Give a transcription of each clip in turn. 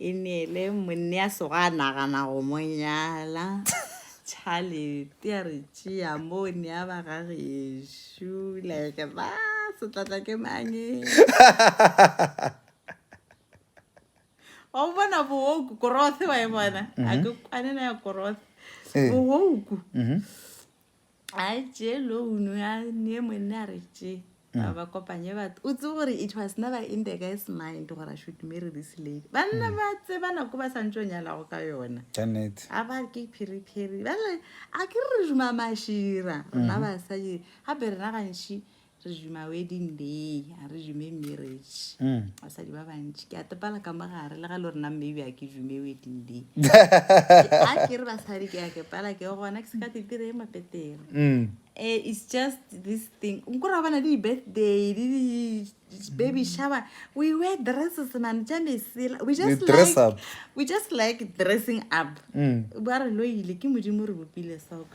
E neele monne ya sego a nagana go mo nyala. Tšhalete a re tšea mo o nea ba ga gešo. Like ba setlatla ke mang e? Wa o bona booku korothe wa e bona? A ke kwane na ya korothe. Booku. a tše loan ya ne monna a re tše ba ba kopanye batho o tse gore it was never in the guy's mind gore i should marry this lady banna ba tseba nako ba santse o nyalago ka yona Janet. a ba ke phiriphiri bale a ke re re duma mašira rena basadi gape rena gantši re juma wedding day a re jume marriage basadi ba bantši ke a tepala ka mogare le ga le rena maybe a ke jume wedding day a ke re basadi ke a ke pala ke gona ke se ka tetire e mapetere um it's just this thing nkora bana le di-birthday le di-baby shower we wear dresses man tša mesela we just You dress like up. we just like dressing up ba re lo ile ke modimo re bopile soko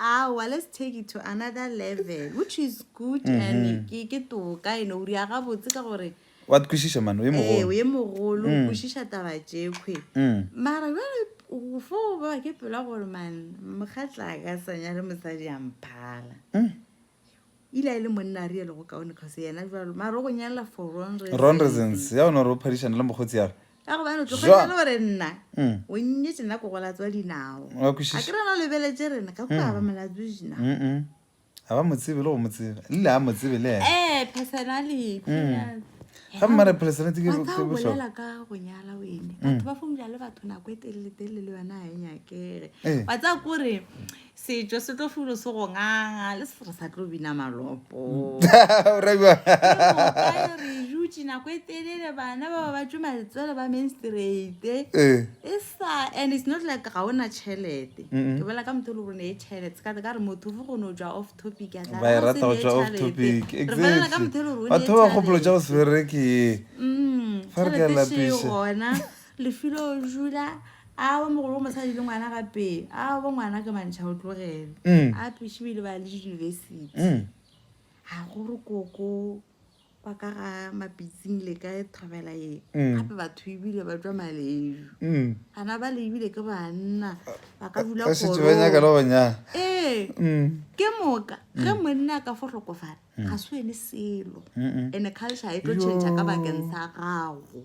Aowa, let's take it to another level, which is good mm -hmm. and ke, ke toka, you know, o riaga botse ka gore wa kwešiša mane o ye mogolo ee o ye mogolo o mm. kwešiša taba tšekhwe mm. mara jale fo ba ke pela gore man mokgatla ka sanya le mosadi a mphala mm. ile a e le monna a rielo go kaone cause yena jalo maro go nyala for wrong wrong reasons ya ona ro phadišana le mokgotsi yare ya go bana tlogela gore nna mm. o nnye tsena go gola tswa dinao a ke rena o lebeletse rena ka kwa ba mm. molatso dina ga ba motsebe le go motseba lile a motsebe le ena eh personally mm. ga mmare personality ke bolela ka go nyala wene batho ba fomja le batho nako e telele telele le yona a e nyakere eh. wa tsa kore Setšo se tlo fulo se go nganga le se re sa tlo bina malopo. Re jutše nako e telele bana ba ba ba tšwe maletswele ba menstrate. Eh. E sa and it's not like ga ona chelete. Ke bolela ka motho le gore ne e chelete. Ka ka re motho fo go no ja off topic ya tla. Ba e rata go ja off topic. Exactly. Re bolela ka motho le gore o ne e chelete. Batho ba gopolo ja go se bereke. Mm. Fa re ka lapisha. Chelete e gona. Lefilo Jula, Aowa mogolo o mosadi le ngwana gape. Aowa ngwana ke mantšha o tlogele. Mm. A pešo ile ba le university. Mm. A go re koko kwa ka ga mapitsing le ka thobela ye. Mm. Gape batho ebile ba tšwa malejo. Mm. Bana ba le ebile ke banna ba ka dula Ba šetše ba nyaka le go nyala. Ee. Mm. Ke moka ge mm. monna a ka fo hlokofala mm. ga se ene selo. Mm-mm. Ene culture e tlo tšhentšha ka bakeng sa gago.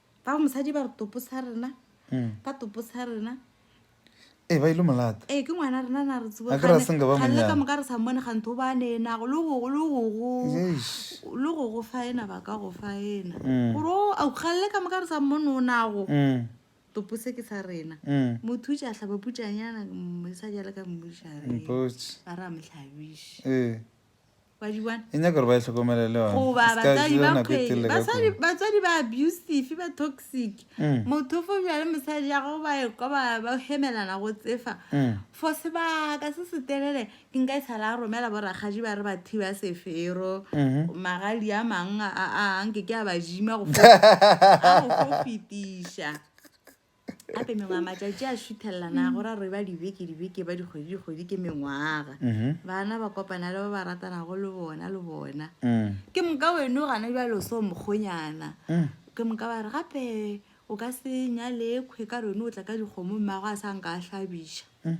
ba mosadi ba re topo sa rena hmm. ba topo sa rena e ba ile molata e ke ngwana rena na re tsebo ga re senga ba monyana ka moka re sa mone ga ntho ba ne na go lo go lo go go lo go go fa ena ba ka go fa ena hmm. gore o a galle ka moka re sa mone o na go hmm. topo se ke sa rena motho ja hlaba putsanyana mo sa jale ka mmushare ba ra mhlabisha e e nyaka gore ba e hlokomele le batswadi ba abusive ba toxic mm. motho fo bjale mosadi ya go ba ekwa ba hemelana go tsefa mm. for sebaka se se telele ke nka e sala romela boragaji ba re ba thiba sefero mm-hmm. magadi a mang a anke ke a bajima go fetiša gape mengwaga matšatši a šuthelelana go ra re ba dibeke dibeke ba dikgwedi dikgwedi ke mengwaga Mhm. bana ba kopana le ba ba ratanago le bona le bona Mm. ke moka weno gana jalo so mokgonyana Mm. ke moka ba re gape o ka se nyalekhwe ka rone o tla ka dikgomo mmago a sa nka a hlabiša Mm.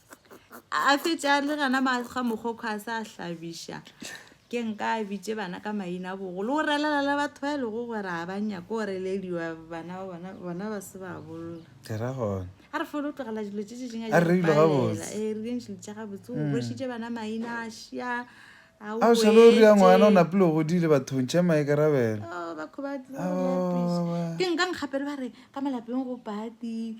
a fetša le gana ga mogokgo a sa hlabiša ke nka a bitše bana ka maina bogo le go relela le batho ba e lego gore a ba nyako go relediwa bana ba bona bona ba se ba bolola a re fole o tlogela dilo tse tšetseng a dipalela ee eh, re dintšhe dilo tša gabotse o mm. bošitše bana maina a šia a šalo o rea ngwana o napile o godile bathong tšhe maikarabelo oh, ke nka nkgapele ba re ka malapeng go pati